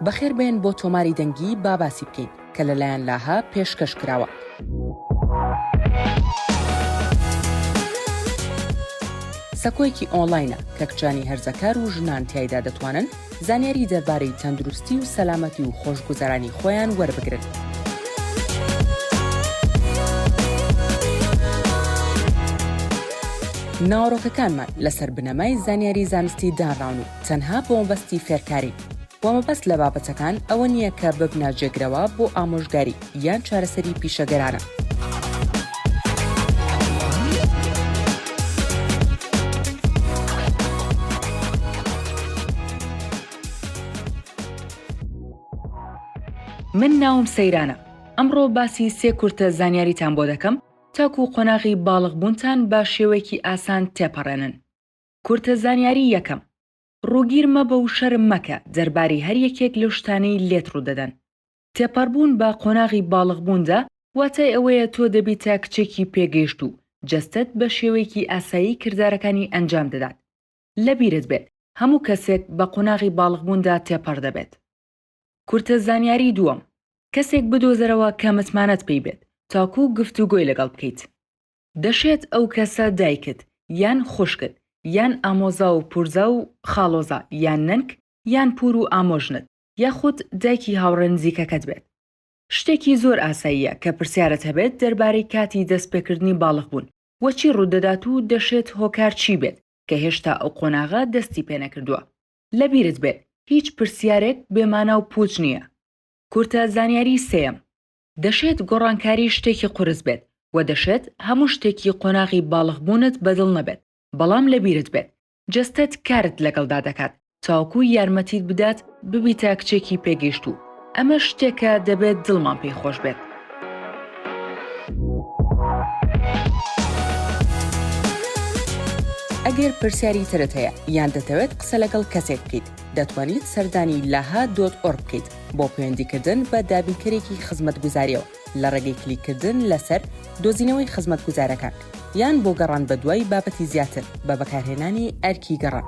بەخێر بێن بۆ تۆماری دەنگی با باسی بکەین کە لەلایەن لاهە پێشکەش کراوە. سەکۆیەکی ئۆنلاینە کە کچانی هەرزەکار و ژنان تایدا دەتوانن زانیاری دەربارەی تەندروستی و سەلامەتی و خۆشگوزەرانی خۆیان وەربگرن. ناوەڕۆکەکانمان لەسەر بنەمای زانیاری زانستی دانراون و تەنها بۆمەبەستی فێرکارین و مەبەست لە بابەتەکان ئەوە نییە کە ببنە جێگرەوە بۆ ئامۆژگاری یان چارەسەری پیشەگەرانە. من ناوم سەیرانە ئەمڕۆ باسی سێ کورتە زانیاریتان بۆ دەکەم تاکو قۆناغی باڵغ بوونتان بە شێوەیەکی ئاسان تێپەڕێنن. کورتە زانیاری یەکەم، ڕووگیر مەبە و شەرم مەکە دەرباری هەر یەکێک لەو شتانەی لێت ڕوودەدەن. تێپەڕبوون بە قۆناغی باڵغ بووندا واتای ئەوەیە تۆ دەبیتە کچێکی پێگەیشتوو، جەستەت بە شێوەیەکی ئاسایی کردارەکانی ئەنجام دەدات. لەبیرت بێت هەموو کەسێک بە قۆناغی باڵغ بووندا تێپەڕ دەبێت. کورتە زانیاری دووەم کەسێک بدۆزەرەوە کە متمانەت پێی بێت تاکوو گفتوگۆی لەگەڵ بکەیت. دەشێت ئەو کەسە دایکت یان خوشکت یان ئامۆزا و پورزا و خاڵۆزا یان نەنک یان پوور و ئامۆژنت یاخود دایکی هاوڕێ نزیکەکەت بێت. شتێکی زۆر ئاساییە کە پرسیارت هەبێت دەربارەی کاتی دەستپێکردنی باڵغبوون و چی ڕوودەدات و دەشێت هۆکار چی بێت کە هێشتا ئەو قۆناغە دەستی پێنەکردووە. لەبیرت بێت هیچ پرسیارێک بێ مانا و پووچ نییە. کورتە زانیاریی سێیەم، دەشێت گۆڕانکاری شتێکی قورس بێت و دەشێت هەموو شتێکی قۆناغی باڵغبوونت بەدڵ نەبێت، بەڵام لەبیرت بێت جەستەت کارت لەگەڵدا دەکات تاوەکو یارمەتیت بدات ببیتە کچێکی پێگەیشتوو. ئەمە شتێکە دەبێت دڵمان پێی خۆش بێت. ئەگەر پرسیاری ترت هەیە یان دەتەوێت قسە لەگەڵ کەسێک بکەیت دەتوانیت سەردانی لاها دۆت ئۆرگ بکەیت بۆ پەیوەندیکردن بە دابینکەرێکی خزمەتگوزاریەوە لە ڕێگەی کلیککردن لەسەر دۆزینەوەی خزمەتگوزارەکان، یان بۆ گەڕان بەدوای بابەتی زیاتر بە بەکارهێنانی ئەرکی گەڕان.